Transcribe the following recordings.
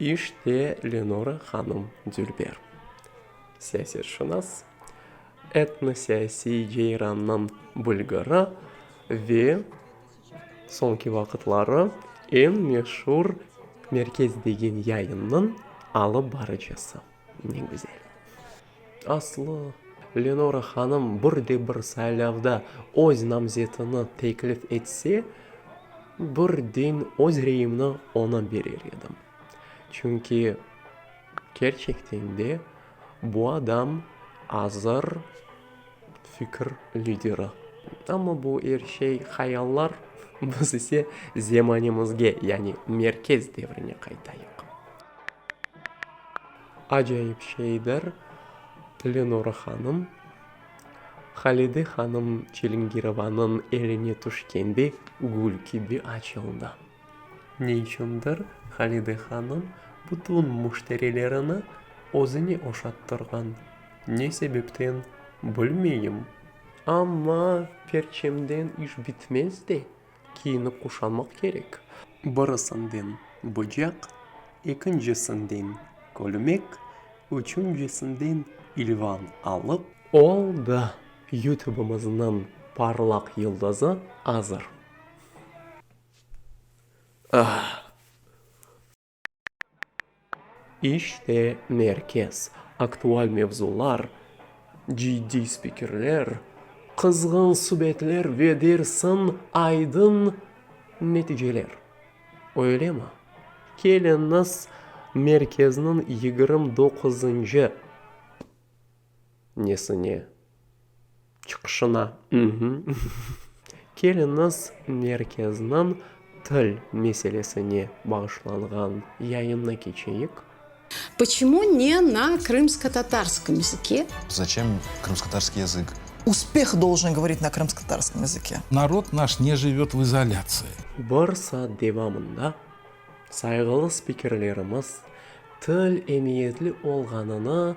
İşte Lenora hanım Dülber, siyasetşınas, etnosiyasiy ceyrannıñ bülgürü ve soñki vaqıtları eñ meşur Merkez degen yayınnıñ alıp barıcısı. Ne güzel. Aslı, Lenora hanım bir de bir saylavda öz namzetini teklif etse, birden öz reyimni oña berer edim. Çünki kerçekten de bu adam azır fikir lideri. Amma bu er şey hayallar, biz ise zemanimizge, yani Merkez Devrine qaytayıq. Acayip şeydir, Lenora hanım, Halide hanım Çilingirovanıñ eline tüşkende gül kibi açıldı. Ne içündir, Halide hanım bütün müşterilerini özüne oşattırğan, ne sebepten, bilmeyim, amma perçemden iş bitmez de, Kiyinip quşanmaq kerek. Birisinden bıcaq, ekincisinden kölmek, üçüncisinden ilvan alıp. Oldı, Yutubımıznıñ parlaq yıldızı azır. İşte merkez, aktual mevzular, ciddiy spikerler, qızğın subetler ve dersiñ aydın neticeler. Öylemi? Keliñiz merkezniñ yigirmi doquzıncı nesine çıqışına, Keliniz merkezniñ til meselesine bağışlanğan yayını keçeyik. Poçemu ne na krımsko-tatarskım yazıke? Zaçem krımsko-tatarskiy yazık? Uspeh doljen govorit na krımsko-tatarskım yazıke. Narod naş ne jivöt v izolâtsiya. Bir saat devamında sayğılı spikerlerimiz til emiyetli olğanını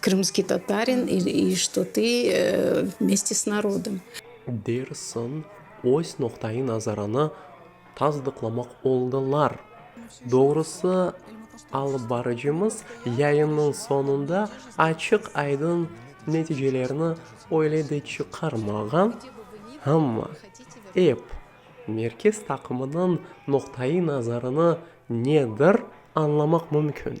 Krımskiy Tatarin ili Şto tı mesti s narodom? Dersiñ, öz noqta-i nazarını tasdıqlamaq oldılar. Doğrusı, alıp barıcımız yayınnıñ soñunda açıq-aydın neticelerni öyle de çıqarmağan, amma ep merkez taqımınıñ noqta-i nazarını nedir añlamaq mümkün.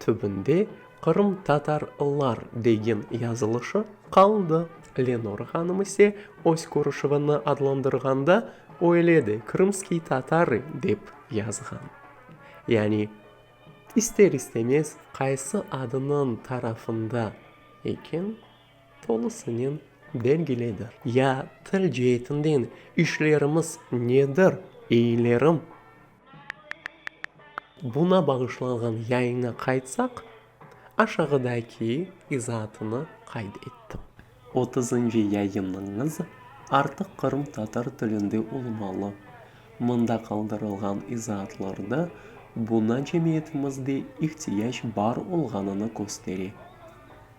Tübünde qırımtatarlar degen yazılışı qaldı. Lenor hanım ise öz körüşüvini adlandırğanda öyle de Krımskiy Tatarıy dep yazğan. Yani ister-istemez qaysı adınıñ tarafında eken, tolusınen belgiledi. Ya til ceetinden işlerimiz nedir, eylerim? Buna bağışlanğan yayına qaytsaq, aşağıdaki izaatını qayd ettim. Otuzıncı yayınıñız artıq qırımtatar tilinde olmalı. Mında qaldırılğan izaatlarda buna cemiyetimizde ihtiyac bar olğanını köstere.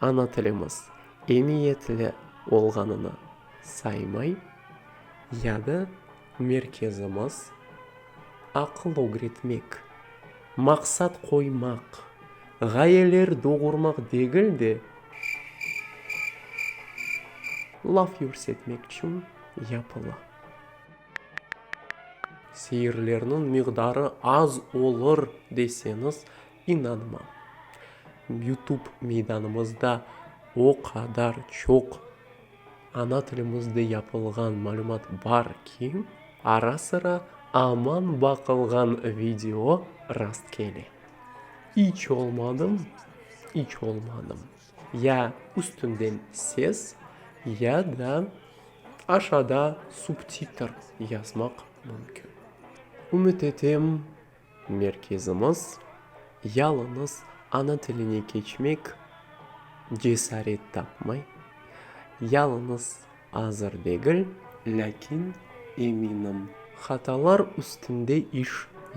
Ana tilimiz emiyetli olğanını saymay, ya da merkezimiz aqıl ögretmek, maqsat qoymaq, ğayeler doğurmaq degil de, laf yürsetmek içün yapıla. Seirlerniñ miqdarı az olur deseñiz, İnanma, YouTube meydanımızda o qadar çoq ana tilimizde yapılğan malümat bar ki, ara-sıra aman baqılğan video rast kele. İç olmadım, iç olmadım, ya üstünden ses, ya da aşada subtitr yazmaq mümkün. Ümüt etem, Merkezimiz, yalıñız ana tiline keçmek cesaret tapmay, yalıñız azır degil, lâkin, eminim, hatalar üstünde iş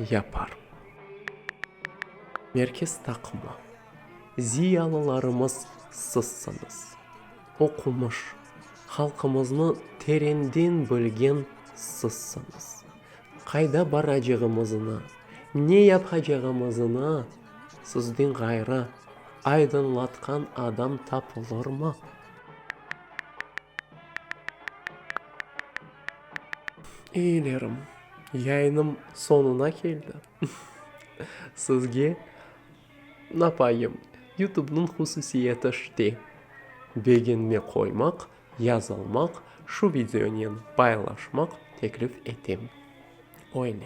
yapar Merkez taqımı, ziyalılarımız sizsiñiz, oqumış, halqımıznı terenden bilgen sizsiñiz. Qayda baracağımıznı, ne yapacağımıznı sizden ğayrı aydınlatqan adam tapılırmı? Iylerim, yayınım soñuna keldi. Sizge napayım, Yutubnıñ hususiyeti şte, begenme qoymaq Yazılmaq, şu videonen paylaşmaq teklif etem. Öyle.